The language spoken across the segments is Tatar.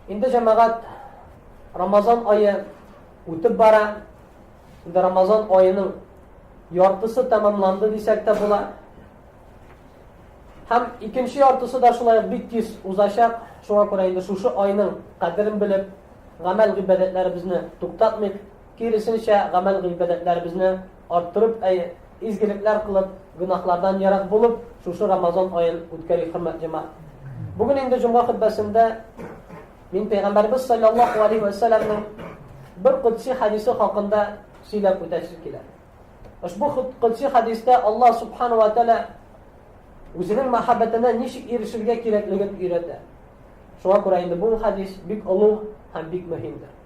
Инде җәмәгать Рамазан айы үтеп бара. Инде Рамазан айының яртысы тәмамланды дисәк тә була. Һәм икенче яртысы да шулай бик тиз узачак. Шуңа күрә инде шушы айның кадерен белеп, гамәл гыйбадәтләребезне туктатмыйк. Киресенчә, гамәл-гыйбадәтләребезне арттырып, әй, изгелекләр кылып, гөнаһлардан ерак булып, шушы Рамазан аен үткәрик, хөрмәт җәмәгать. Бүген инде җомга хөтбәсендә мин Пәйгамбәрбез саллаллаху алейхи ва саллямның бер кудси хадисе хакында сөйләп үтәсе килә. Ошбу кудси хадистә Аллаһ субхану ва тәала үзенең мәхәббәтенә ничек ирешергә кирәклеген өйрәтә. Шуңа күрә инде бу хадис бик олуг һәм бик мөһимдер.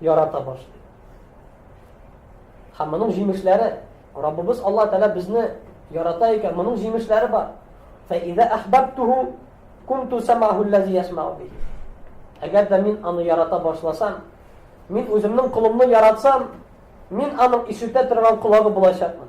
ярата башлый. Һәм моның җимешләре, Раббыбыз Аллаһ Тәгалә безне ярата икән, моның җимешләре бар. Фәизә әхбәттуху кунту самаху ләзи ясмау би. Әгәр дә мин аны ярата башласам, мин үземнең колымны яратсам, мин аның ишетә торган колагы булачакмын.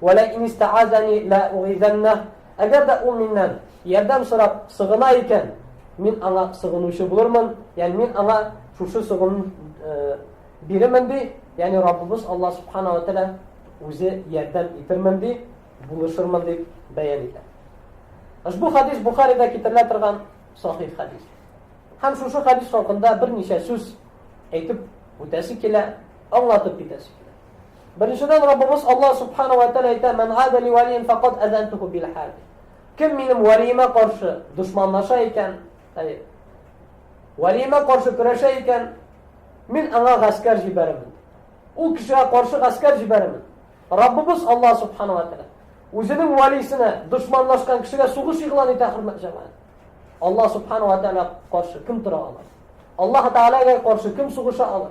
Вә лә ин истәгазәни лә угизәннәһ, Әгәр дә ул миннән ярдәм сорап сыгына икән, мин аңа сыгынучы булырмын, ягъни мин аңа шушы сыгыну бирермен, ди, ягъни Раббыбыз Аллаһ субхана ва тәгалә үзе ярдәм итермен, ди, булышырмын, дип бәян итә. Ошбу хадис Бухаридә китерелә торган сахих хадис. Һәм шушы хадис хакында берничә сүз әйтеп үтәсе килә, аңлатып китәсе килә. Беренчедән, Раббыбыз Аллаһ Субхана ва Тәгалә әйтә, "Мән гада ли валиен факат азантуху бил хар". Кем минем валиемә каршы дошманлаша икән, әй, валиемә каршы көрәшә икән, мин аңа гаскәр җибәрәмен. Ул кешегә каршы гаскәр җибәрәмен. Раббыбыз Аллаһ Субхана ва Тәгалә үзенең валисенә дошманлашкан кешегә сугыш игълан итә, хөрмәт җәмәгать. Аллаһ Субхана ва Тәгалә каршы кем тора ала? Аллаһ Тәгаләгә каршы кем сугыша ала?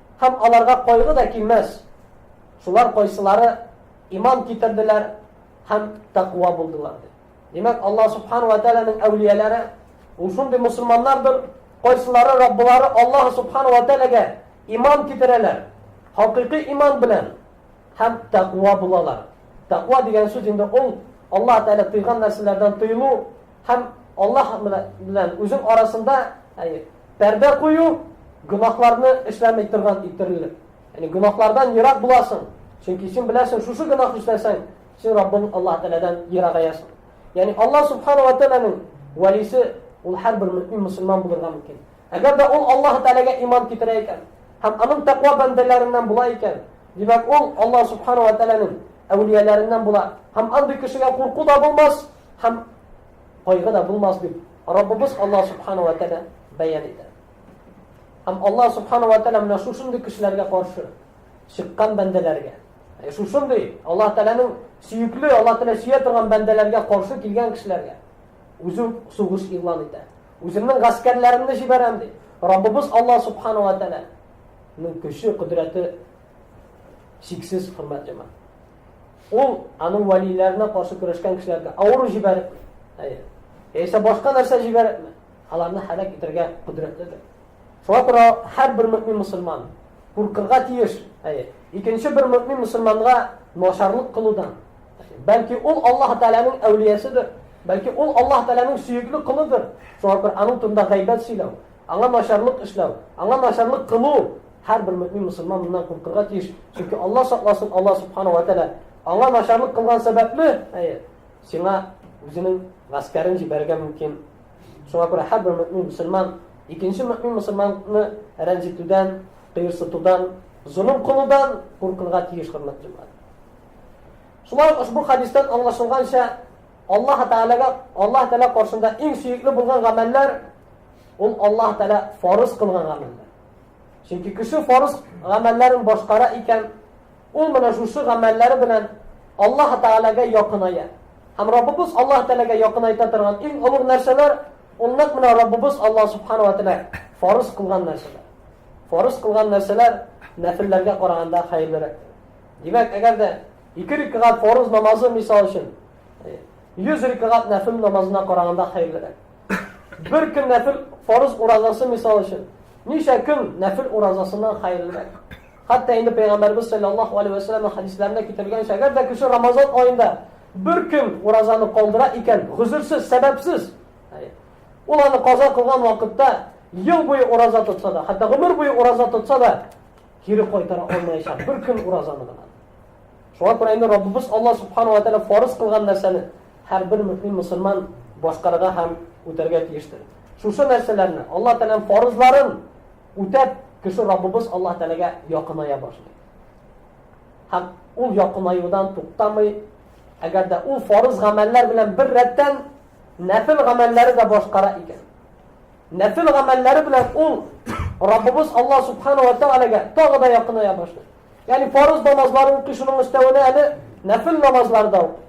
Һәм аларга кайгы да килмәс. Шулар кайсылары иман китерделәр һәм тәкъва булдылар ди. Димәк, Алла субхана ва тәгаләнең әүлияләре ул шундый мусламаннардыр, кайсылары Раббылары Аллаһ субхана ва тәгаләгә иман китерәләр, хакыйкый иман белән һәм тәкъва булалар. Тәкъва дигән сүз инде ул Аллаһ Тәгалә тыйган нәрсәләрдән тыелу, Һәм Аллаһ белән үзең арасында пәрдә кую, гөнаһларны эшләмәй торган иттерелеп. Яни гөнаһлардан ерак буласың. Чөнки син беләсең, шушы гөнаһ эшләсәң, син Раббың Аллаһ Тәгаләдән ерагаясың. Яни Аллаһ Субхану ва Тәгаләнең вәлисе ул һәрбер мөмин мусульман булырга мөмкин. Әгәр дә ул Аллаһ Тәгаләгә иман китерә икән, һәм аның тәкъва бәндәләреннән була икән, димәк ул Аллаһ Субхану ва Тәгаләнең әүлияләреннән була. Һәм андый кешегә курку да булмас, Һәм кайгы да булмас дип Раббыбыз Аллаһ субхана ва тәгалә бәян итә. Һәм Аллаһ субхана ва тәгалә менә шушындый кешеләргә каршы чыккан бәндәләргә, ә шушындый Аллаһ Тәгаләнең сөекле, Аллаһ Тәгалә сөя торган бәндәләргә каршы килгән кешеләргә үзе сугыш игълан итә. Үземнең гаскәрләремне җибәрәм ди. Раббыбыз Аллаһ субхана ва тәгаләнең көче, кодрәте чиксез хөрмәт җәмәгать. Ул аның вәлиләренә каршы көрәшкән кешеләргә авыру җибәреп, әйе, яисә башка нәрсә җибәреп, аларны һәлак итәргә кодрәтледер. Шуңа күрә һәрбер мөмин мусульман куркырга тиеш. Әйе, икенче бер мөмин мусульманга начарлык кылудан. Бәлки ул Аллаһ Тәгаләнең әүлиясыдыр. Бәлки ул Аллаһ Тәгаләнең сөекле колыдыр. Шуңа күрә аның турында гайбәт сөйләү, аңа начарлык эшләү, аңа начарлык кылу Һәрбер мөэмин мөселман моннан куркырга тиеш, чөнки Алла сакласын, Алла субхана ва тәала аңа начарлык кылган сәбәпле, әйе, сиңа үзенең гаскәрен җибәрергә мөмкин. Шуңа күрә һәрбер мөэмин мөселман икенче мөэмин мөселманны рәнҗетүдән, кыерсытудан, золым кылудан куркырга тиеш хөрмәт җәмәгать. Шулай ук ошбу хадистан аңлашылганча, Аллаһ Тәгаләгә, Аллаһ Тәгалә каршында иң сөекле булган гамәлләр ул Аллаһ Тәгалә фарыз кылган гамәлләр. Чөнки кеше фарыз гамәлләрен башкара икән, ул менә шушы гамәлләре белән Аллаһ Тәгаләгә якыная. Һәм Раббыбыз Аллаһ Тәгаләгә якыная торган иң олуг нәрсәләр ул нәкъ менә Раббыбыз Аллаһ Субхана ва Тәгалә фарыз кылган нәрсәләр. Фарыз кылган нәрсәләр нәфилләргә караганда хәерлерәк. Димәк, әгәр дә ике рикгать фарыз намазы мисал өчен 100 рикгать нәфил намазына караганда хәерлерәк. Бер көн нәфил фарыз уразасы мисал өчен. Ничә көн нәфил уразасыннан хәерлерәк? Хәтта инде пәйгамбәрбез саллаллаһу алейһи ва сәлләмнең хадисларында китерелгәнчә, әгәр дә кеше Рамазан аенда бер көн уразаны калдыра икән, гозерсез, сәбәпсез, ул аны каза кылган вакытта ел буе ураза тотса да, хәтта гомер буе ураза тотса да, кире кайтара алмаячак. Бер көн уразаны гына. Шуңа күрә инде Раббыбыз Алла субхану ва тәгалә фарыз кылган нәрсәне Һәрбер мөэмин мөселман башкарырга һәм үтәргә тиештер. Шушы нәрсәләрне, Аллаһ Тәгаләнең фарызларын үтәп, кеше Раббыбыз Аллаһ Тәгаләгә якыная башлый. Һәм ул якынаюдан туктамый, әгәр дә ул фарыз гамәлләр белән бер рәттән нәфил гамәлләре дә башкара икән. Нәфил гамәлләре белән ул Раббыбыз Аллаһ Субхану ва Тәгаләгә тагы да якыная башлый. Ягъни фарыз намазларын кешенең өстәвенә әле нәфил намазлар да укый.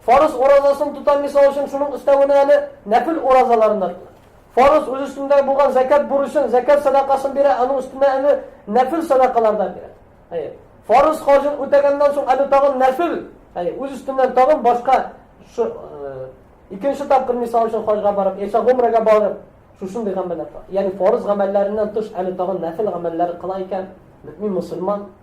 Фарыз уразасын тотам, мисал өчен, шуның өстәвенә әле нәпил уразаларын да тотам. Фарыз үз өстендә булган зәкәт бурычын, зәкәт садакасын бирә, аның өстенә әле нәпил садакалардан бирә. Әйе. Фарыз хаҗын үтәгәннән соң әле тагын нәфил, әйе, үз өстеннән тагын башка шу э, икенче тапкыр мисал өчен хаҗга барып, яисә гомрәгә барып, шушындый гамәлләр. Ягъни фарыз гамәлләреннән тыш әле тагын нәфил гамәлләр кыла икән, мөмин мусульман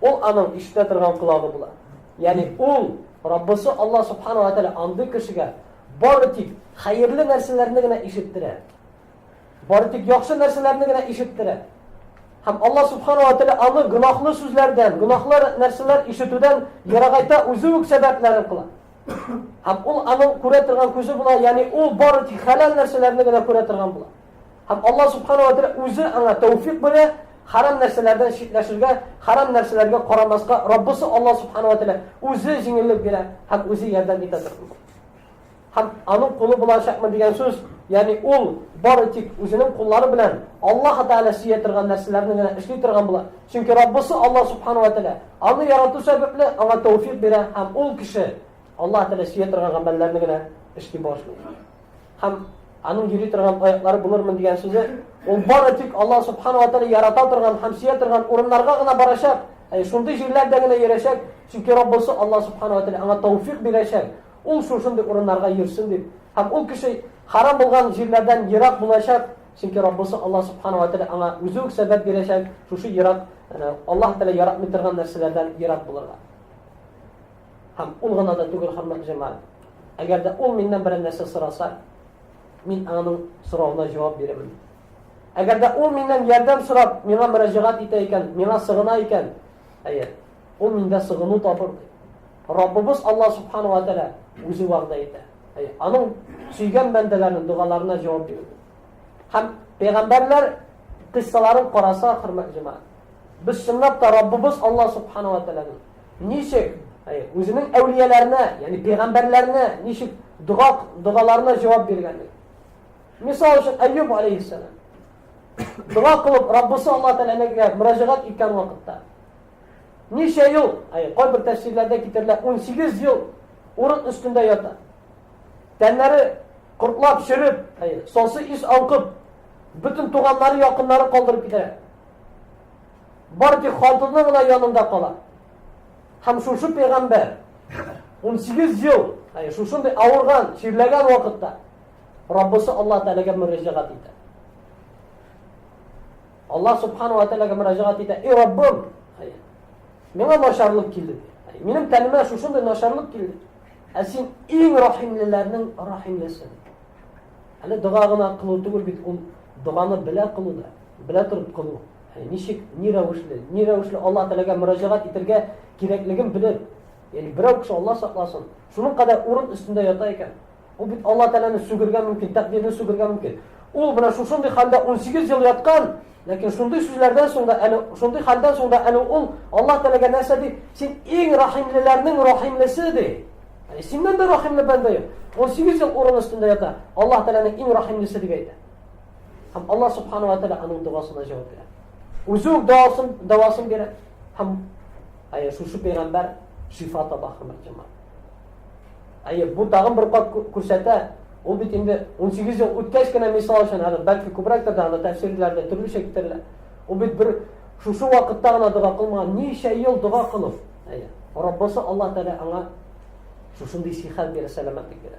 Ул аның ишетә торган колагы була. Ягъни ул, Раббысы Аллаһ Субхана ва Тәгалә андый кешегә бары тик хәерле нәрсәләрне генә ишеттерә. Бары тик яхшы нәрсәләрне генә ишеттерә. Һәм Аллаһ Субхана ва Тәгалә аны гөнаһлы сүзләрдән, гөнаһлы нәрсәләр ишетүдән ерагайта, үзе үк сәбәпләрен кыла. Һәм ул аның күрә торган күзе була, ягъни ул бары тик хәләл нәрсәләрне генә күрә торган була. Һәм Аллаһ Субхана уә Тәгалә Үзе аңа тәүфикъ бирә, хәрам нәрсәләрдән читләшергә, хәрам нәрсәләргә карамаска Раббысы Аллаһ Субхана уә Тәгалә Үзе җиңеллек бирә һәм Үзе ярдәм итә торган. Һәм Аның кулы булачакмы дигән сүз, ягъни ул бары тик үзенең куллары белән Аллаһ Тәгалә сөя торган нәрсәләрне генә эшли торган була. Чөнки Раббысы Аллаһ Субхана уә Тәгалә аны ярату сәбәпле аңа тәүфикъ бирә һәм ул кеше Аллаһ Тәгалә сөя торган гамәлләрне генә эшли башлый. Һәм аның йөри торган аяклары булырмын дигән сүзе, ул бары тик Алла субхана ва тәгалә ярата торган һәм сөя торган урыннарга гына барачак, ә шундый җирләрдә генә йөрәчәк, чөнки Раббысы Алла субхана ва тәгалә аңа тауфик бирәчәк, ул шушындый урыннарга йөрсен дип. Һәм ул кеше харам булган җирләрдән ерак булачак, чөнки Раббысы Алла субхана ва тәгалә аңа үзе үк сәбәп бирәчәк, шушы ерак, Аллаһ тәгалә яратмый торган нәрсәләрдән ерак булырга. Һәм ул гына да түгел, хөрмәтле җәмәгать. Әгәр дә ул миннән берәр нәрсә сораса, мин аның соравына җавап бирәмен. Әгәр дә ул миннән ярдәм сорап, миңа мөрәҗәгать итә икән, миңа сыгына икән, әйе, ул миндә сыгыну табыр. Раббыбыз Аллаһ субхану ва тааля үзе вәгъдә итә. Әйе, аның сөйгән бәндәләренең дугаларына җавап бирә. Һәм пәйгамбәрләр кыссаларын караса, хөрмәтле җәмәгать, без чынлап та Раббыбыз Аллаһ субхану ва тааляның Ничек? Үзенең әүлияләренә, ягъни пәйгамбәрләренә ничек дога догаларына җавап биргәнлек. Мисал өчен Әйюб алейхиссалам. Дога кылып, Раббысы Алла тәгаләгә мөрәҗәгать иткән вакытта. Ничә ел, ай, кайбер тәфсирләрдә китерелә, 18 ел урын өстендә ята. Тәннәре кортлап чөреп, ай, сосы ис аңкып, бөтен туганнары, якыннары калдырып китә. Бар тик хатыны гына янында кала. Һәм шушы пәйгамбәр 18 ел, әй шушындый авырган, чирләгән вакытта Раббысы Аллаһ Тәгаләгә мөрәҗәгать итә. Аллаһ Субхану ва Тәгаләгә мөрәҗәгать итә. И Раббым, әй миңа начарлык килде. Әй минем тәнемә шушындый начарлык килде. Ә син иң рәхимлеләрнең рәхимлесе. Әле дога гына кылу түгел бит, ул доганы белә кылу да. Белә торып кылу. Ничек, ни рәвешле, ни рәвешле Аллаһ Тәгаләгә мөрәҗәгать итергә кирәклеген белеп, ягъни берәү кеше Аллаһ сакласын, шуның кадәр урын өстендә ята икән. Ул бит Аллаһ Тәгаләне сүгергә мөмкин, тәкъдирне сүгергә мөмкин. Ул менә шушындый хәлдә 18 ел яткан, ләкин шундый сүзләрдән соң да әле шундый хәлдән соң да әле ул Аллаһ Тәгаләгә нәрсә ди? Син иң рәхимлеләрнең рәхимлесе ди. Яни синнән дә рәхимле бәндә юк. 18 ел урын өстендә ята. Аллаһ Тәгаләнең иң рәхимлесе дип әйтә. Һәм Аллаһ субхана ва тәгалә аның догасына җавап бирә. Үзе үк дәвасын дәвасын бирә. Һәм әйе, шушы пәйгамбәр шифа таба хөрмәт җәмәгать. Әйе, бу тагын бер кат күрсәтә, ул бит инде 18 ел үткәч кенә мисал өчен, әле бәлки күбрәктер дә аны тәфсирләрдә төрлечә китерелә. Ул бит бер шушы вакытта гына дога кылмаган, ничә ел дога кылып, әйе. Раббысы Аллаһ Тәгалә аңа шушындый сихәт бирә, сәламәтлек бирә.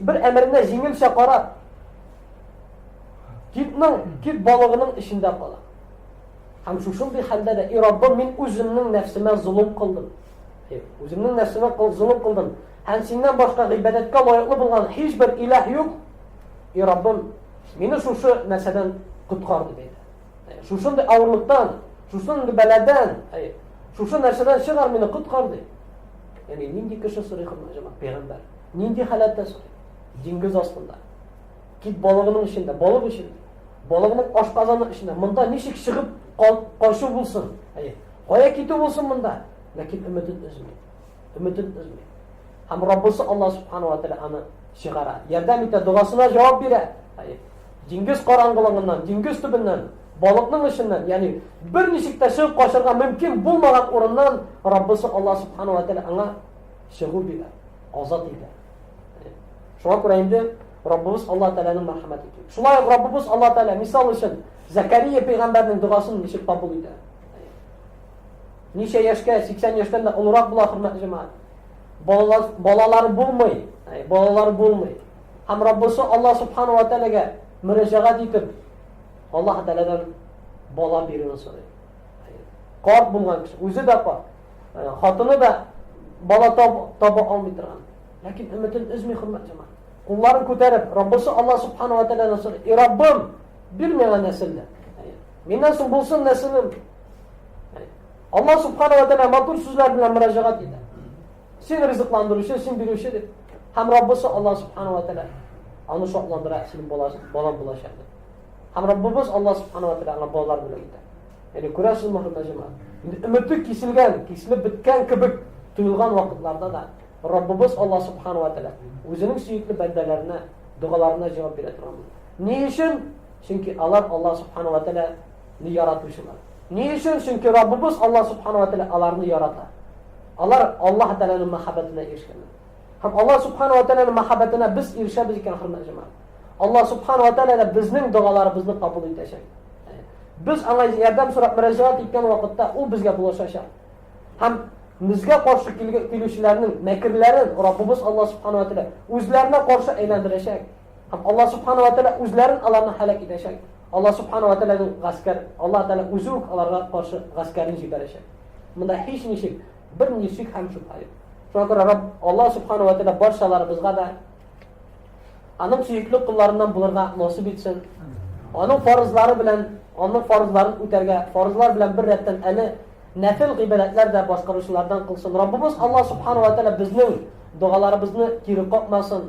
Бер әмеренә җиңелчә кара. Китнең, кит балыгының эчендә кала. Һәм шушындый хәлдә дә, и Раббым, мин үземнең нәфсемә золым кылдым. Үземнең нәфсемә золым кылдым. Һәм синнән башка гыйбадәткә лаеклы булган һичбер илаһ юк. И Раббым, мине шушы нәрсәдән коткар дип әйтә. Шушындый авырлыктан, шушындый бәладән, шушы нәрсәдән чыгар мине коткар дип. Яни нинди кеше сорый хөрмәт җәмәгать? Пәйгамбәр. Нинди халәттә сорый? Диңгез астында. Кит балыгының эчендә, балык эчендә. Балыгының ашказаны эчендә. Монда ничек чыгып качу булсын? Әйе. Кая китү булсын монда? Ләкин өметен өзми. Өметен өзми. Һәм Раббысы Аллаһ субханаһу ва тааля аны чыгара. Ярдәм итә, догасына җавап бирә. Әйе. Диңгез караңгылыгыннан, диңгез төбеннән Балыкның эченнән, ягъни берничек тә чыгып качарга мөмкин булмаган урыннан Раббысы Аллаһ субхана ва тәгалә аңа чыгу бирә, азат итә. Шуңа күрә инде Раббыбыз Аллаһ Тәгаләнең мәрхәмәте киң. Шулай ук Раббыбыз Аллаһ Тәгалә мисал өчен Закария пәйгамбәрнең дугасын ничек кабул итә? Ничә яшькә, 80 яшьтән дә олырак була хөрмәтле җәмәгать. Балалар балалар булмый, балалар булмый. Һәм Раббысы Аллаһ субхана ва тәгаләгә мөрәҗәгать итеп, Аллаһ Тәгаләдән бала бирүне сорый. Карт булган кеше, үзе дә карт, э, хатыны да бала таба алмый торган. Ләкин өметен өзми хөрмәт җәмәгать. Кулларын күтәреп, Раббысы Аллаһ субхана ва тәгаләдән сорый. И Раббым, бир миңа нәселне. Миннән соң булсын нәселем. Аллаһ субхана ва тәгалә матур сүзләр белән мөрәҗәгать итә. Син ризыкландыручы, син бирүче дип. Һәм Раббысы Аллаһ субхану ва тәгалә аны шатландыра, синең балаң булачак дип. Һәм Раббыбыз Аллаһ субхану ва тәгалә аңа балалар бүләк итә. Ягъни күрәсез мөхәммәд җәмәгать. Инде өмете киселгән, киселеп беткән кебек тоелган вакытларда да Раббыбыз Аллаһ субхану ва тәгалә үзенең сөекле бәндәләренә, догаларына җавап бирә торган. Ни өчен? Чөнки алар Аллаһ субхану ва тәгалә Ни яратучылар. Ни өчен? Чөнки Раббыбыз Аллаһ Субхана ва Тәгалә аларны ярата. Алар Аллаһ Тәгаләнең мәхәббәтенә ирешкәннәр. Һәм Аллаһ Субхана ва Тәгаләнең мәхәббәтенә без ирешәбез икән, хөрмәтле җәмәгать. Аллаһ Субхана ва Тәгалә дә безнең догаларыбызны кабул итәчәк. Без аңа ярдәм сорап мөрәҗәгать иткән вакытта ул безгә булышачак. Һәм Безгә каршы килүчеләрнең мәкерләрен Раббыбыз Алла Субхану ва Тәгалә үзләренә каршы әйләндерәчәк. Һәм Алла Субхану ва Тәгалә үзләрен аларны һәлак итәчәк. Аллаһ Субхана ва Тәгаләнең гаскәр, Аллаһ Тәгалә үзе үк аларга каршы гаскәрен җибәрәчәк. Монда һичничек, бернинди шик һәм шөбһә юк. Шуңа күрә Рабб Аллаһ Субхана ва Тәгалә барчаларыбызга да аның сөекле кулларыннан булырга насыйп итсен. Аның фарызлары белән, аның фарызларын үтәргә, фарызлар белән бер рәттән әле нәфил гыйбадәтләр дә башкаручылардан кылсын. Раббыбыз Аллаһ Субхана ва Тәгалә безнең догаларыбызны кире какмасын.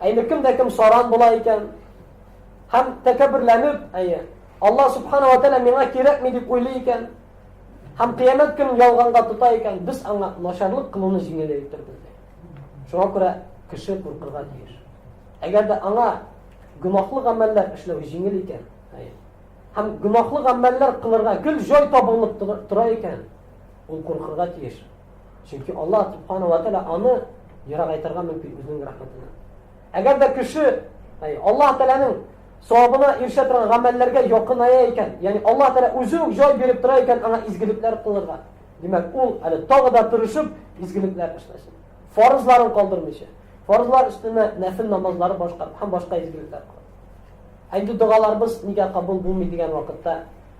Ә инде кемдә кем саран була икән? Һәм тәкәбберләнеп, әйе, Алла субхана ва тәгалә миңа кирәкми дип уйлый икән, һәм кыямәт көнен ялганга тота икән, без аңа начарлык кылуны җиңеләйтер безгә. Шуңа күрә кеше куркырга тиеш. Әгәр дә аңа гөнаһлы гамәлләр эшләү җиңел икән, һәм гөнаһлы гамәлләр кылырга гел җай табылып тора икән, ул куркырга тиеш. Чөнки Алла субхану ва тәала аны ерагайтырга мөмкин үзенең рәхмәтеннән. Әгәр дә кеше Алла тәаләнең савабына ирешә торган гамәлләргә якыная икән, ягъни Алла тәала үзе үк җай биреп тора икән аңа изгелекләр кылырга. Димәк, ул әле тагы да тырышып изгелекләр эшләсен. Фарызларын калдырмыйча. Фарызлар өстенә нәфил намазлары башка һәм башка изгелекләр кылсын. Әйдә догаларыбыз нигә кабул булмый дигән вакытта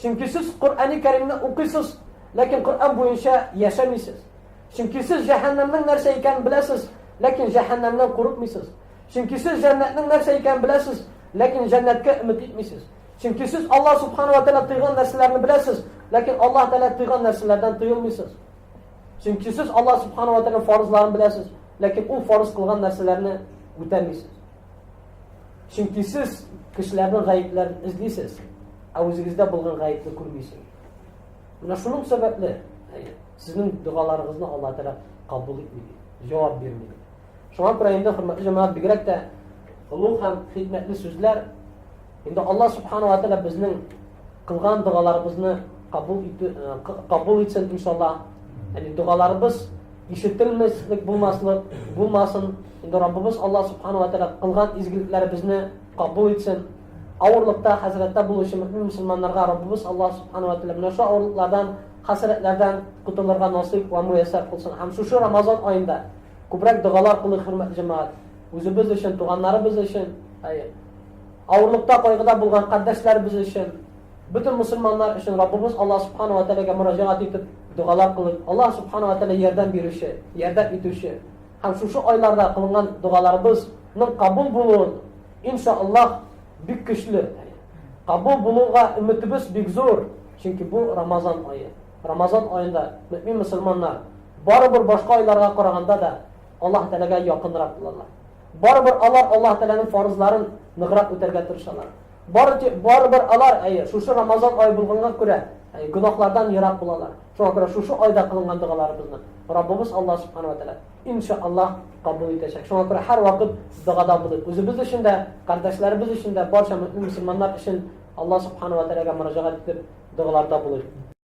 Чөнки сез Коръәни Кәримне укыйсыз, ләкин Коръән буенча яшәмисез. Чөнки сез җәһәннәмнең нәрсә икәнен беләсез, ләкин җәһәннәмнән курыкмыйсыз. Чөнки сез җәннәтнең нәрсә икәнен беләсез, ләкин җәннәткә өмет итмисез. Чөнки сез Аллаһ Субхану ва Тәгалә тыйган нәрсәләрне беләсез, ләкин Аллаһ Тәгалә тыйган нәрсәләрдән тыелмыйсыз. Чөнки сез Аллаһ Субхану ва Тәгалә фарызларын беләсез, ләкин ул фарыз кылган нәрсәләрне үтәмисез. Чөнки сез кешеләрнең гаепләрен эзлисез, ә үзегездә булган гаепне күрмисез. Менә шуның сәбәпле сезнең догаларыгызны Алла Тәгалә кабул итми, җавап бирми. Шуңа күрә инде хөрмәтле җәмәгать бигрәк тә олуг һәм хикмәтле сүзләр Инде Аллаһ субхана ва тәгалә безнең кылган догаларыбызны кабул итү кабул итсен иншаллаһ. Яни догаларыбыз ишетелмәслек булмаслык булмасын. Инде Раббыбыз Аллаһ субхана ва тәгалә кылган изгелекләребезне кабул итсен. Авырлыкта, хәзрәттә булучы мөмин мусламаннарга Раббыбыз Аллаһ субхана ва тәгалә менә шу авырлыклардан, хәсрәтләрдән котылырга насыйп ва муяссар кылсын. Һәм шушы Рамазан аенда күбрәк догалар кылыйк, хөрмәтле җәмәгать. Үзебез өчен, туганнарыбыз өчен, әйе. Авырлыкта, кайгыда булган кардәшләребез өчен, бөтен мөселманнар өчен Раббыбыз Аллаһ Субхана ва Тәгаләгә мөрәҗәгать итеп, догалар кылыйк. Аллаһ Субхана ва Тәгалә ярдәм бирүче, ярдәм итүче. Һәм шушы айларда кылынган догаларыбыз ның кабул булуын, ин ша Аллаһ, бик көчле, әни, кабул булуга өметебез бик зур, чөнки бу Рамазан ае. Рамазан аенда мөэмин мөселманнар, барыбер башка айларга караганда да, Аллаһ Тәгаләгә якынрак булалар. Барыбер алар Аллаһ Тәгаләнең фарызларын ныграк үтәргә тырышалар. Барыбер алар, әйе, шушы Рамазан ае булганга күрә, әйе, гөнаһлардан ерак булалар. Шуңа күрә шушы айда кылынган догаларыбызны Раббыбыз Аллаһ Субханаһу ва Тәгалә иншааллаһ кабул итәчәк. Шуңа күрә һәр вакыт догада булыйк. Үзебез өчен дә, кардәшләребез өчен дә, барча мөэмин мөселманнар өчен Аллаһ Субханаһу ва Тәгаләгә мөрәҗәгать итеп догаларда булыйк.